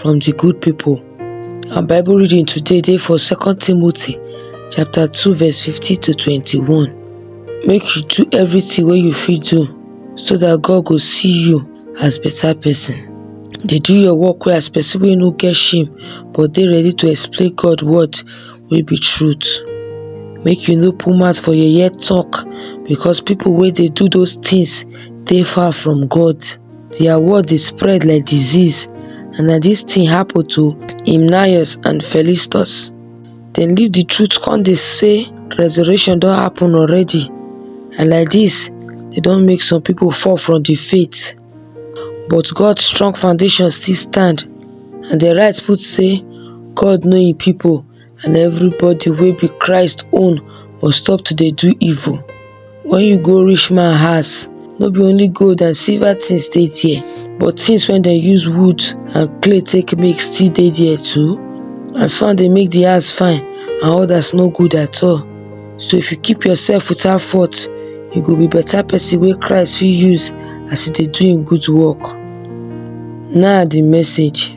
from the good people. Our Bible reading today dey for 2 Timothy chapter 2 verse 15 to 21. Make you do everything wey you fit do so that God go see you as better person. Dey do your work well as person wey no get shame but dey ready to explain God word wey be truth. Make you no put mouth for yeye talk because people wey dey do those things dey far from God. dia word dey spread like disease and na dis tin happen to Hymenaeus and Philistus. Dem leave di truth come dey say resurrection don happen already and like dis e don make some pipo fall from di faith but God strong foundation still stand and di right put say God know im pipo. and everybody wey be christ own must stop to dey do evil when you go rich man house no be only gold and silver things dey there but things wey dem use wood and clay take make still dey there too and some dey make the house fine and others no good at all so if you keep yourself without fault you go be better person wey christ fit use as e dey do him good work na the message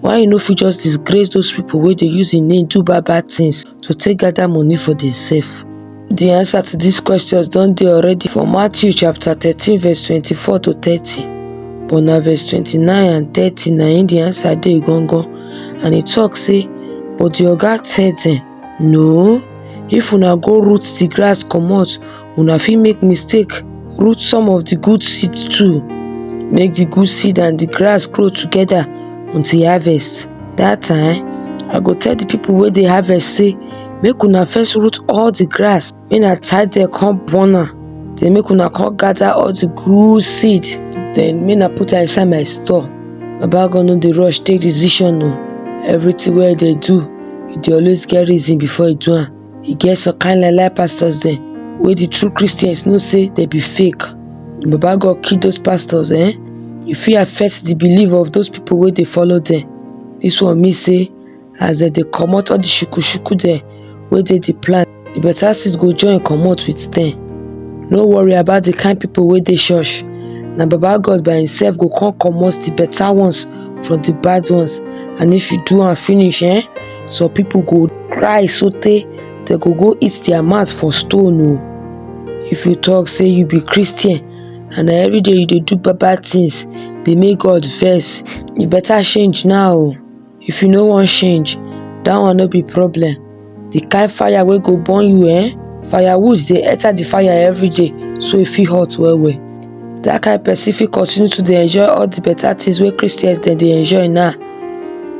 why you no fit just disgrace those people wey dey use im name do bad bad things to take gather money for themselves? The answer to these questions don dey already for Matthew chapter thirteen verse twenty-four to thirty but na verse twenty-nine and thirty na im the answer dey gangan and e talk say but the oga tell them no if una go root the grass comot una fit make mistake root some of the good seed too make the good seed and the grass grow together until harvest that time i go tell the people wey dey harvest say make una first root all the grass make na tie dem come burn am then make una come gather all the good seed then make na put am inside my store baba god no dey rush take decision o everything wey e dey do e dey always get reason before e do am e get some kind lie lie pastors dem wey the true christians know say dem be fake baba god kill those pastors eh e fit affect the belief of those people wey dey follow dem this one mean say as dem dey comot all the shukushuku dem wey dey the plan the better seed go join comot with dem no worry about the kind people wey dey church na baba god by himself go come comot the better ones from the bad ones and if you do am finish eh Some people go cry so tey dem go go eat their mouth for stone o. Oh. If you talk say you be Christian and na everyday you dey do bad bad things dey make God vex, you better change now o. Oh. If you no wan change, that one no be problem. The kind fire wey go burn you eh, firewood dey enter the fire everyday so e fit hot well well. Dat kain pesin fit continue to dey enjoy all di beta tins wey Christians dem dey enjoy now,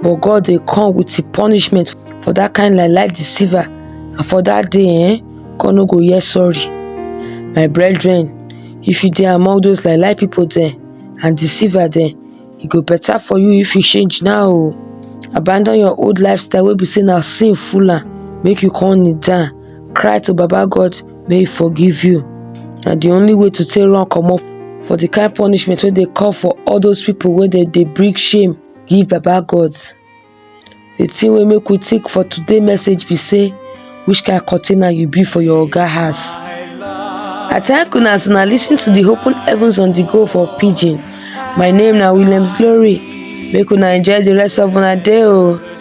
but God dey come wit im punishment for dat kain lie lie deceiver and for dat day um God no go hear sorry. My brethren if you dey among those lie lie pipu dem and deceiver dem, e go beta for you if you change now o, abandon your old lifestyle wey be sey na sin full am, make you come kneel down cry to baba God. make e forgive you na the only way to take run comot for the kind punishment wey dey come for all those people wey dem dey bring shame give baba God the thing wey make we think for today message be say which kind container you be for your oga house I thank una as una lis ten to the open heavens on the go for pidgin my name na Williams Glory make una enjoy the rest of una day o.